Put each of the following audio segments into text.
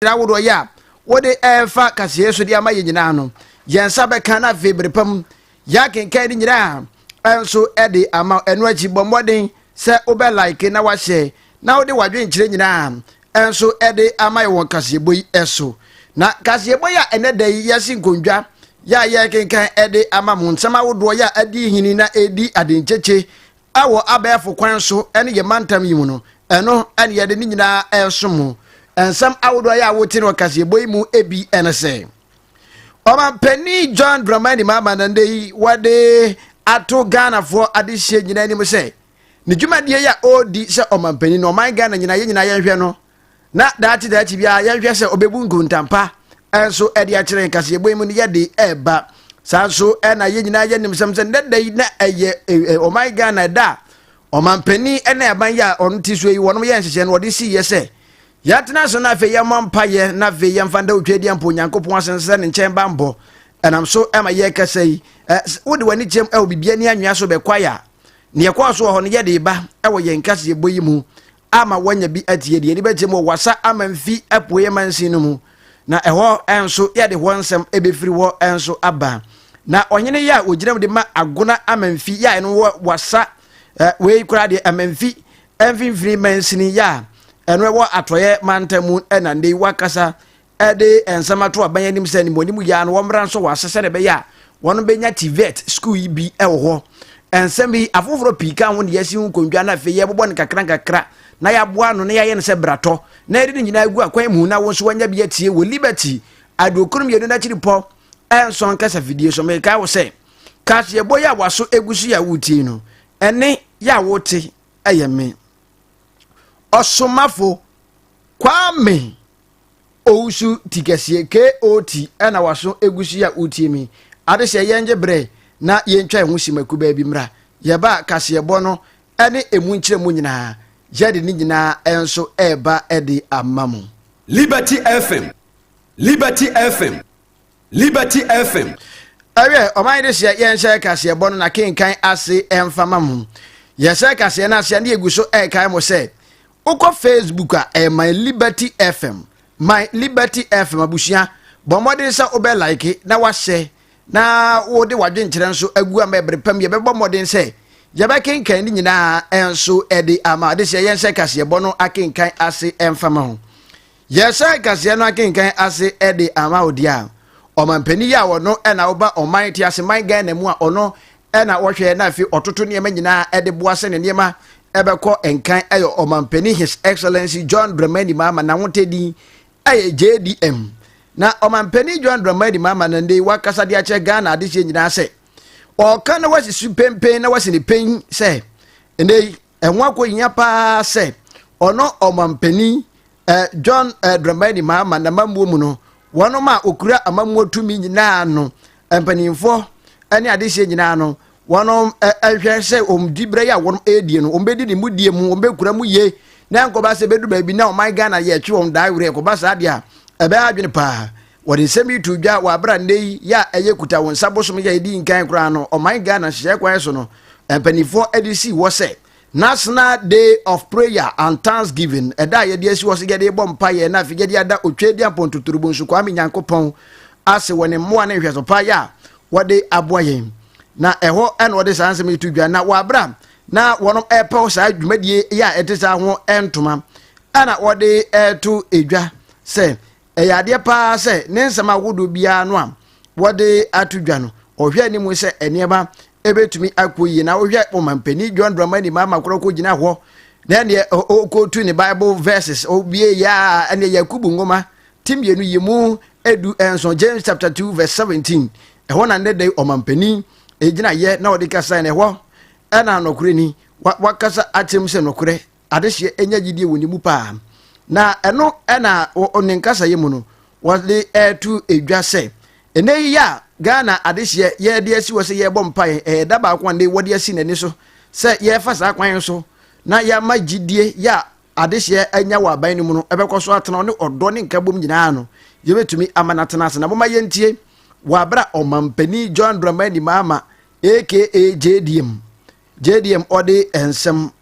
nhyira ahodoɔ yɛ a wode ɛrefa kaseɛ so de ama yɛ nyinaa no yɛn nsa bɛka na afei bere pa mu yɛakenkan ne nyinaa ɛnso ɛde ama ɛno akyi bɔ mmɔden sɛ wobɛ like na wahyɛ na wode wadwenkyerɛ nyinaa ɛnso ɛde ama yɛ wɔn kaseɛbɔ yi ɛso na kaseɛbɔ yi a ɛnɛ da yi yɛasi nkondwa yɛ a yɛkenkan ɛde ama mo nsɛm ahodoɔ yɛ a adi hini na ɛdi adenkyekye wɔ abɛɛfo kwan so ne yɛn mantam yi mu no, ɛno na yɛde ne nyinaa resom mo. Nsɛm ahodoɔ a yɛ a wote no ɔkaseɛbɔ yi mu ebi ne sɛ, Ɔmanpanin John Dramani Mahama na nnɛ yi wɔde ato Ghanafoɔ adehyeɛ nyinaa anim sɛ, ne dwumadie yi a ɔredi sɛ ɔmanpanin no, ɔman Ghana nyinaa, yɛn nyinaa yɛnhwɛ no na daakye daakye biara yɛnhwɛ sɛ ɔbɛbu nkontam pa nso de akyerɛ yɛn kaseɛbɔ yi mu no yɛde ɛreba saa nso na yɛn nyinaa yɛ nim sɛm sɛ nnɛ da yi na ɛyɛ ɔman ghana ɛda a ɔmanpanin ne aban yi a ɔno ti so yi wɔnom yɛ nhyehyɛ no wɔde si yɛ sɛ yɛatena so na afei yɛmmɔ mpayɛ na afei yɛmfa nda otwa adi ampo onyankopɔn ase sɛ ne nkyɛn bammɔ ɛnam so ɛma yɛrekasa yi wode w'ani kyɛm ɛwɔ biribi ani anwea so bɛkwae a neɛ kɔɔ so wɔ hɔ no yɛde ba ɛwɔ yɛn kaseɛbɔ yi mu ama wɔanya bi atie deɛ yɛde bɛgye mu wasa ama mfi apueɛ mansin no mu na ɛhɔ nso yɛde hɔ nsɛm ɛbɛfiri hɔ nso aba na ɔhene yɛ a ɔgyina mu de ma agona amanfi yɛ a ɛno wɔ wasa wei koraa deɛ amanfi mfimfini mansini yɛ a ɛno ɛwɔ atɔeɛ mantam mu ɛna ndei wakasa de nsɛm ato aban anim sɛ animuanim yɛ no wɔmmra nso wɔ ase sɛdeɛ ɛbɛyɛ a wɔn bɛnya tivet sukuu yi bi wɔ hɔ nsɛm yi afoforɔ pii ka ho ne yɛasi ho nkondwa no afei yɛbobɔ no kakra nkakra na yɛaboa no na yɛayɛ no sɛ bratɔ na yɛde no nyinaa gu akwan mu na wo nso wanya bi atie wɔ liberty aduokron mmienu no akyiri pɔ ɛnsɔn kasa fidie so mekae wo sɛ kaseɛbɔ yi a waso egu so yɛ a wotie no ɛne yɛ a wote ɛyɛ me ɔsomafo kwame Owusu ti kɛseɛ KOT na waso egu so yi a wotie me yi. Ade sɛ yɛngye berɛ na yɛntwa yɛn ho simma kubaa bi mmra. Yɛba a kaseɛbɔ no ne emu nkyerɛmu nyinaa, yɛde ne nyinaa nso reba de ama mo. Liberty FM, Liberty FM, Liberty FM. Ɛwɛ ɔman de seɛ yɛnhyɛ kaseɛ bɔ no na kenkan ase ɛmfa ma mo yɛhyɛ kaseɛ no aseɛ ne yɛgu so ɛkae mo sɛ wokɔ facebook a ɛyɛ my liberty fm my liberty fm abusua bɔ mmɔden sɛ wobɛ like na wahyɛ na wode wadwenkyerɛ nso agu ama ɛbere pam yɛbɛbɔ mmɔden sɛ yɛbɛkenkan ne nyinaa ɛnso ɛde ama de seɛ yɛnhyɛ kaseɛ bɔ no akenkan ase ɛmfa ma ho Yɛhyɛ kaseɛ no akenkan ase de ama wo deɛ a, ɔmanpanin yi a ɔno na ɔba ɔman teaseman Ghana mu a ɔno na ɔhwɛ na afei ɔtoto nneɛma nyinaa de boa sɛ ne nneɛma ɛbɛkɔ nkan yɛ ɔmanpanin His Excellency John Dramani Mahama n'ahotɛ din yɛ JDM na ɔmanpanin John Dramani Mahama na ndei wakasa de akyerɛ Ghana adehyeɛ nyinaa sɛ ɔka na wasi so pempen na wasi ne pen sɛ ndei ɛho akɔhia paa sɛ ɔno ɔmampanin eh, John eh, Dramani Mahama n'amammuo mu no wɔnom a ɔkura amammuo tumi nyinaa no mpanimfoɔ ne adehyeɛ nyinaa no wɔnom eh, ɛhwɛ sɛ ɔmdi berɛ yi a wɔnom ɛredie no ɔmbɛdi ne mudie mu ɔmbɛkura mu yie na nkɔba sɛ bɛdu baabi na ɔman Ghana yɛtwe wɔn daa werɛ kɔba saa deɛ a ɛbɛyɛ adwene paa Wɔde nsɛm yi too dwa wɔ bere a nnɛ yi yɛ a ɛyɛ kuta wo nsa bosom yɛ a edi nkan koraa no, ɔman Ghana nhyehyɛe kwan so no, mpanimfoɔ de sii hɔ sɛ National Day of Prayer and Thanksgiving, ɛda a yɛde asi hɔ sɛ yɛde rebɔ mpaeɛ na afei yɛde ada Otwedeampɔn Totoro Bonsu Kwame Nyankopɔn ase wɔ ne mmoa ne nhwɛso pa yɛ a wɔde aboa yɛn. Na ɛhɔ na wɔde saa nsɛm yi to dwa, na wɔ bere a na wɔn ɛrepaw saa dwumadie yɛ a ɛte saa ho ntoma ɛna wɔde ɛreto dwa sɛ Ɛyɛ adeɛ pa ara sɛ ne nsɛm ahodoɔ biara no a wɔde ato dwa no, ɔhwɛ anim sɛ nneɛma bɛtumi akɔ yie. Na wohwɛ Ɔmampanin John Dramani Mahama koraa ɔkɔgyina hɔ na ɛneɛ ɔkɔtu ne Bible verses, ɔbie yɛ a ɛneɛ Yakubu nwoma ti mmienu yi mu edu nson, James chapter 2 verse 17, ɛhɔ na nnɛ da yi Ɔmampanin gyina yɛ na ɔde kasa na ɛhɔ ɛna nɔkorɛ ni, wakasa akyerɛ mu sɛ nɔkorɛ adehyeɛ anya gyidie wɔ ne mu paa. Na ɛno na wɔ ne nkasayɛ mu no wɔde ɛreto edwa sɛ ɛnɛ yi a Ghana adehyeɛ yɛde asi hɔ sɛ yɛrebɔ mpaeɛ ɛyɛ da baako a ne wɔde asi n'ani so sɛ yɛrefa saa kwan so na yɛama gyidie yɛ a adehyeɛ anya wɔ aban no mu no ɛbɛkɔ so atena ne ɔdɔ ne nkabom nyinaa no yɛbɛtumi ama no atena ase na moma yɛntie wɔ abera ɔmampani John Dramani Mahama aka JDM JDM ɔde nsɛm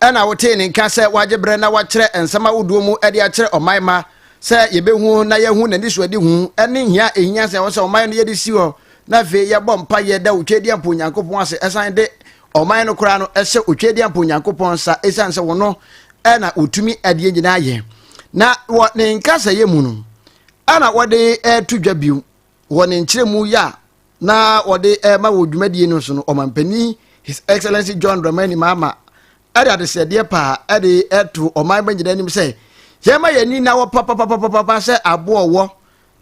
Ɛna wotee ne nka sɛ wagye berɛ na wakyerɛ nsɛm ahodoɔ mu de akyerɛ ɔman mma sɛ yɛbɛhu na yɛahu n'anisoadehu ne hia a ɛhia sɛ ɛwɔ sɛ ɔman no yɛde si hɔ na afei yɛbɔ mpaeɛ da Otwedeɛmpa Onyankopɔn ase ɛsan de ɔman no koraa no hyɛ Otwedeɛmpa Onyankopɔn nsa ɛsiane sɛ wɔno ɛna wɔtumi adeɛ nyinaa yɛ na wɔ ne nkasɛeɛ mu no ɛna wɔde to dwa bio wɔ ne nkyerɛmu yɛ a na wɔde rema wɔ dwumadie no so no ɔmampanin his excellency john dramani mahama ɛde adesrɛdeɛ paa ɛde ɛto ɔman bɛ nyinaa anim sɛ yɛma yɛn ani na wɔ papapapapapa sɛ aboɔ wɔ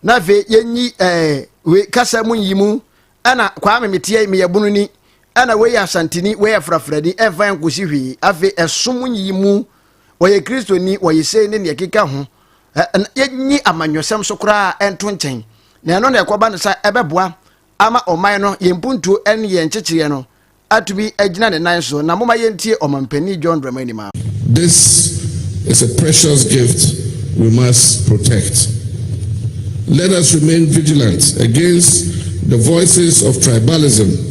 na afei yɛnyi ɛɛ eh, we kasa mu nyi mu ɛna kwame meteɛ meyɛ bunu ni ɛna wei yɛ asanteni wei yɛ frafrani ɛmfa yɛn kɔsi hwee afei ɛsom nyi mu wɔyɛ kristoni wɔyɛ sei ne neɛ keka ho yɛnyi amanyɔsɛm so koraa ɛnto nkyɛn na ɛno na ɛkɔba no sɛ ɛbɛboa ama ɔman no yɛn mpuntuo ne yɛn nkyekyereɛ no atumi agyina ne nan so na moma yɛntie ɔmampanin John Dramani ma This is a precious gift we must protect. Let us remain vigilant against the voices of tribalism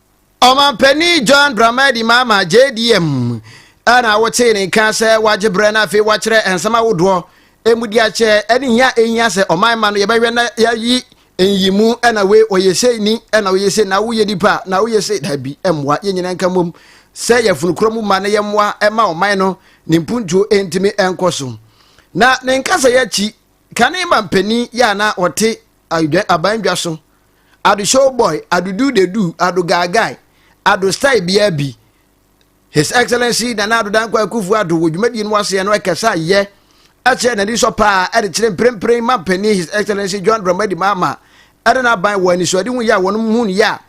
Ɔmanpanin John Dramani Mahama, JDM, na wotee ne nka sɛ wagye berɛ na afei wakyerɛ nsɛm ahodoɔ mudi akyɛ ne hia a ɛhia sɛ ɔman ma no yɛbɛhwɛ na yɛayi nyimu na wei ɔyɛ sei ni na ɔyɛ sei na woyɛ nipa na woyɛ sei dabi mmoa yɛn nyinaa nka mmom sɛ yɛafunukorɔ mu ma na yɛmmoa ɛma ɔman no ne mpuntuo ntumi nkɔ so na ne nkasa yɛakyi kane ma mpanin yɛ a na ɔte aban dwa so ado show boy ado do de do ado guy guy ado style bia bi his excellency nana ado dankwa akufu ado wɔ dwumadie no aseɛ no ɛkasa yɛ ɛkyerɛ n'ani sɔ paa ɛde kyerɛ mprempren ma mpanin his excellency john dramadi maama ɛde n'aban wɔ anisoade ho yɛ a wɔn mu yɛ a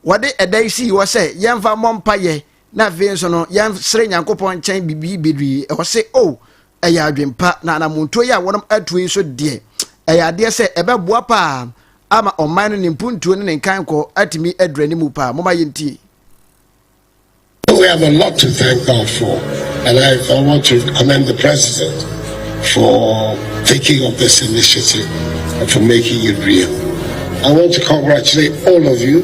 wɔde ɛda yi sii hɔ sɛ yɛmfa mmɔ mpa yɛ na afei nso no yɛnsere nyankopɔn nkyɛn biribi bebree ɛwɔ se o oh, ɛyɛ adwempa na anamontuo yi a wɔnom atuo yi so deɛ ɛyɛ adeɛ sɛ ɛbɛboa paa ama ɔman no ne mpuntuo ne ne nkankɔ atumi adura ne mu paa moma yɛntie We have a lot to thank God for, and I, I want to commend the President for taking up this initiative and for making it real. I want to congratulate all of you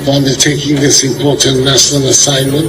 for undertaking this important national assignment.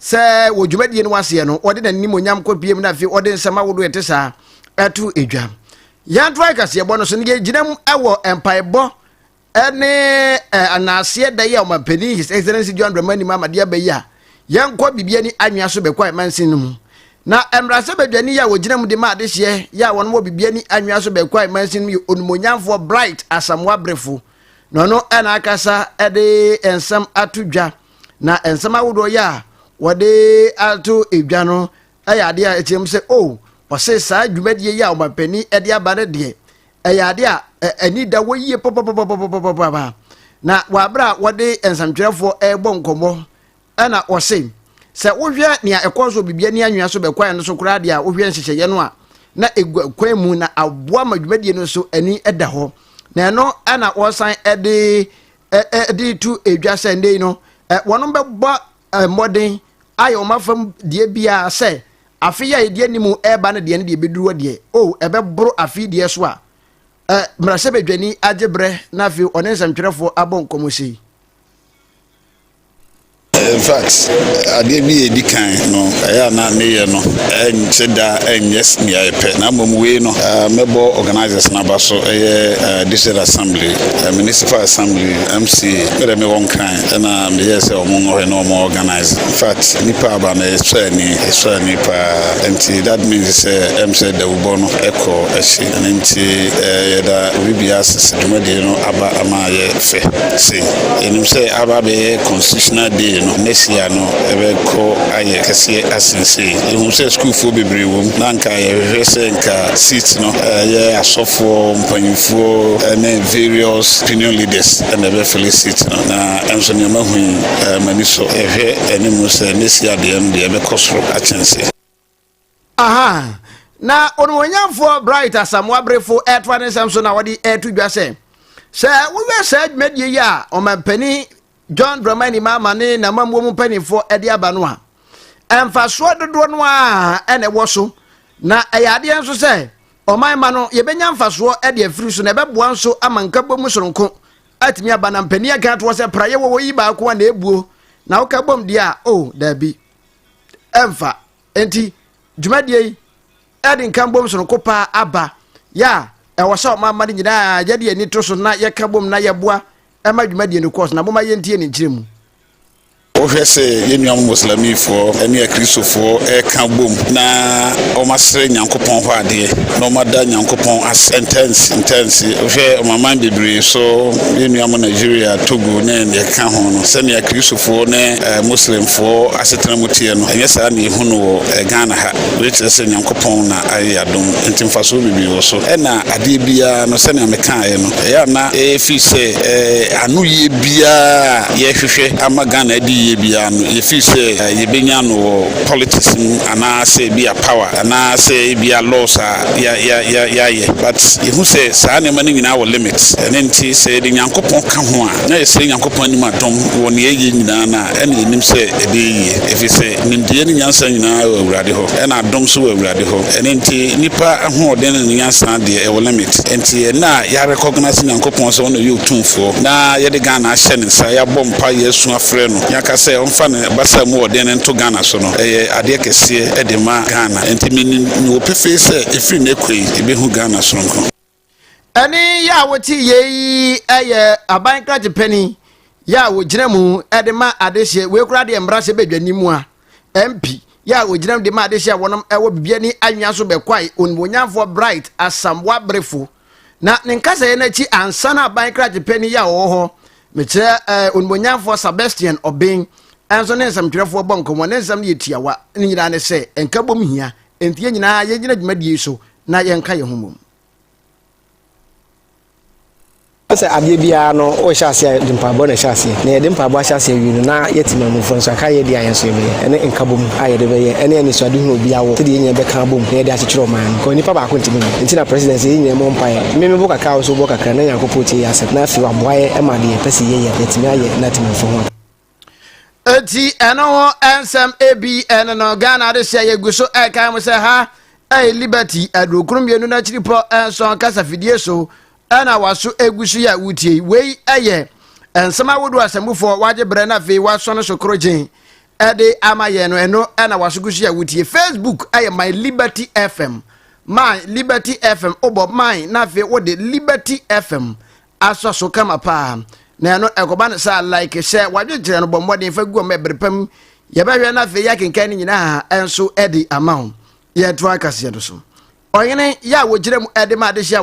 sɛ wɔ dwumadie no aseɛ no ɔde n'animonyam kɔ piem na afei ɔde nsɛm ahodoɔ ɛte saa ɛto edwa yɛnto akaseɛbɔ no so no yɛgyina mu ɛwɔ mpaebɔ ɛne anaaseɛ da yi a ɔmampanin his excellence john dramani ma amadeɛ aba yi a yɛnkɔ biribi ani anwea so bɛkɔ a ɛmansin no mu na mmarahyɛ badwani yɛ a wɔgyina mu de ma adehyeɛ yɛ a wɔn wɔ biribi ani anwea so bɛkɔ a ɛmansin no mu yɛ onumonyamfoɔ bright asamoa berefo na ɔno ɛna akasa ɛde nsɛm ato dwa na nsɛm ahodoɔ yɛ a wɔde ato edwa no yɛ adeɛ a ɛteɛ mu sɛ o oh, wɔse saa dwumadie yi a ɔmampanin de aba no deɛ ɛyɛ adeɛ a ani da hɔ yie papapapapapapa na wɔaberɛ a wɔde nsɛmtwerɛfoɔ ɛrebɔ nkɔmmɔ ɛna wɔse sɛ wohwɛ nea ɛkɔɔ so biribi ani anwea so bɛkwae no so koraa deɛ a wohwɛ nhyehyɛeɛ no a na ɛgu kwan mu na aboa ma dwumadie no so ani da hɔ na ɛno ɛna wɔsan de de to edwa sɛ nnɛ yi no wɔn bɛbɔ mmɔden ayɛ wɔn afam deɛ biara sɛ afe yi a yɛde anim ɛreba no deɛ no deɛ ɛbɛduru hɔ deɛ o ɛbɛboro afe deɛ so a mmarahyɛbadwani agye berɛ na afei ɔne nsɛmtwerɛfoɔ abɔ nkɔmmɔ sei In fact, adeɛ bi a ɛdi kan no, ɛyɛ a na meyɛ no ɛnkyɛ da ɛnyɛ nea ɛpɛ, na mmom wei no mɛbɔ organisers no aba so, ɛyɛ District Assembly, Municipal Assembly, MCA, me deɛ mewɔ Nkran ɛna meyɛɛ sɛ wɔn nwɔ hɔ na wɔn organise, in fact nnipa aba no ɛsɔ ani, ɛsɔ ani paa, nti that means sɛ ɛm sɛ dawubɔ no ɛkɔ akyi, ɛno nti yɛda Obi Biara ase sɛ dwumadie no aba ama. ayɛ fɛ sei. Yɛnim sɛ aba abɛyɛ constitutional day no, next year no ɛbɛkɔ ayɛ kɛseɛ asen sei. Yɛhu sɛ sukuufoɔ bebree wɔ mu na nka yɛhwehwɛ sɛ nka seat no ɛyɛ asɔfoɔ mpanyinfoɔ ne various opinion leaders na ɛbɛfele seat no na ɛnso nea mahu yi m'ani sɔ. Yɛhwɛ anim sɛ next year deɛ no deɛ ɛbɛkɔ soro akyɛn sei. Aha. Na onuonyamfoɔ Bright Asamoah Berefo ɛtoa ne nsɛm so na wɔde ɛto dwa sɛ sɛ woyɛ saa dwumadie yi a ɔmampanin John Dramani Mahama ne n'amammuo mu mpanimfoɔ de aba no a mfasoɔ dodoɔ no ara ɛna ɛwɔ so na ɛyɛ adeɛ nso sɛ ɔman ma no yɛbɛnya mfasoɔ de afiri so na ɛbɛboa nso ama nkabom soronko atumi aba na mpanin aka atoɔ sɛ praeɛ wɔ wɔ yi baako a na ɛbuo na woka bom deɛ a o oh, daabi ɛmfa nti dwumadie yi ɛde nka mbom sononko paa aba yɛ a ɛwɔ sɛ ɔma ama no nyinaa yɛde ani to so na yɛka bom na yɛboa ɛma dwumadie no kɔɔ so na moma yɛntie ne nkyerɛ mu wohwɛ sɛ yɛn nuam muslimifoɔ ne akristofoɔ ɛka bom na wɔasrɛ nyankopɔn hɔ adeɛ na wɔada nyankopɔn asɛ ntɛnse ntɛnse wohwɛ ɔmaman bebree so yɛn nuam nigeria togo ne deɛ ɛka ho no sɛnea akristofoɔ ne Muslimfoɔ asetena mu teɛ no, ɛnyɛ saa na yɛhu no wɔ Ghana ha. Wei kyerɛ sɛ Nyankopɔn na ayɛ yɛn adom nti mfasoɔ bebree wɔ so. Ɛna adeɛ biara no, sɛnea mekaeɛ no, ɛyɛ a na ɛyɛ firi sɛ anoyie biara a yɛhwehwɛ ama Ghana adi yie biara no, yɛfiri sɛ yɛbɛnya no wɔ politics mu anaasɛ ebia power anaasɛ ebia laws a yɛayɛ. But yɛhu sɛ saa nneɛma no nyinaa wɔ limit. Ɛno nti sɛ yɛde Nyankopɔn ka ho a, na yɛsrɛ Nyankopɔn anim a, dɔm wɔ nea eye nyinaa no a, ɛnna yenim sɛ ɛbɛyɛ yiye, efisɛ nimdeɛ ne nyansa nyinaa wɔ Awurade hɔ, ɛnna adom nso wɔ Awurade hɔ. Ɛno nti, nnipa ahoɔden ne ne nyansa deɛ, ɛwɔ limit. Enti, ɛnnɛ a yɛarecognise Nyankopɔn sɛ ɔno na ɔyɛ Otumfoɔ, na yɛde Ghana ahyɛ ne nsa, yɛabɔ mpae, yɛasu afrɛ no, yɛaka sɛ ɔmfa ne basa mu ɔden no nto Ghana so no, ɛyɛ adeɛ kɛseɛ de ma Ghana. Enti, menim, mewɔ pefee sɛ, ɛfiri nnɛ kɔ yi, yebehu Ghana sononko. Ɛne yɛ a wote yei yɛ aban krakye pani yɛ a wɔgyina mu de ma adehyeɛ wei koraa deɛ mmara hyɛ badwani mu a mp yɛ a wɔgyina mu de ma adehyeɛ a wɔnom ɛwɔ bibiani anwea so bɛkwae onimonyamfoɔ bright asamboa berefo na ne nkasɛeɛ no akyi ansa na aban krakye pani yɛ a wɔwɔ hɔ mekyerɛ ɛɛ eh, onimonyamfoɔ sebastian ɔben ɛnso ne nsɛmtwerɛfoɔ bɔ nkɔmmɔ ne nsɛm no yɛ tiawa ne nyinaa ne sɛ nkabom hia Enti yɛn nyinaa yɛnnyina dwumadie yi so na yɛnka yɛn ho mmom. Sɛ adeɛ biara no wohyɛ aseɛ a yɛde mpaebɔ na ɛhyɛ aseɛ na yɛde mpaebɔ ahyɛ aseɛ awie no na yɛte maamufoɔ nso aka yɛn deɛ a yɛn nso yɛbɛyɛ ɛne nkabom a yɛde bɛyɛ ɛne anisoadehunu a obiara wɔ sɛdeɛ yɛn nyinaa bɛka abom na yɛde akyekyere ɔman no because nipa baako ntumi nyɛ nti na president sɛ yɛn nyinaa mmɔ mpaeɛ me mebɔ kakra a wo nso wobɔ kakra na Nyankopɔn tie yɛn asɛm na afei waboa yɛn ma deɛ yɛpɛ sɛ yɛyɛ no yɛatumi ayɛ na atemamufoɔ ho aba. Eti ɛno ho nsɛm ebi ɛne no Ghana adesua yɛgu so ɛkan mu sɛ ha ɛyɛ Liberty adurokron mmienu n'akyiripɔ nson kasafidie so ɛna waso egu so yɛ a wotie wei ɛyɛ nsɛm ahodoɔ asɛmufoɔ wagye brɛ na afei waso no so korogyen ɛde ama yɛn no ɛno ɛna waso gu so yɛ a wotie Facebook ɛyɛ My Liberty FM My Liberty FM wobɔ My na afei wode Liberty FM asɔ so kama paa na ɛno ɛkɔba no saa like sɛ wadwekyerɛ no bɔ mmɔden fa gu ɔma ɛbere pa mu yɛbɛhwɛ no afei yɛakenkan no nyinaa ɛnso ɛde ama ho yɛnto akaseɛ no so ɔhene yɛ a wɔgyina mu ɛde ma adehye a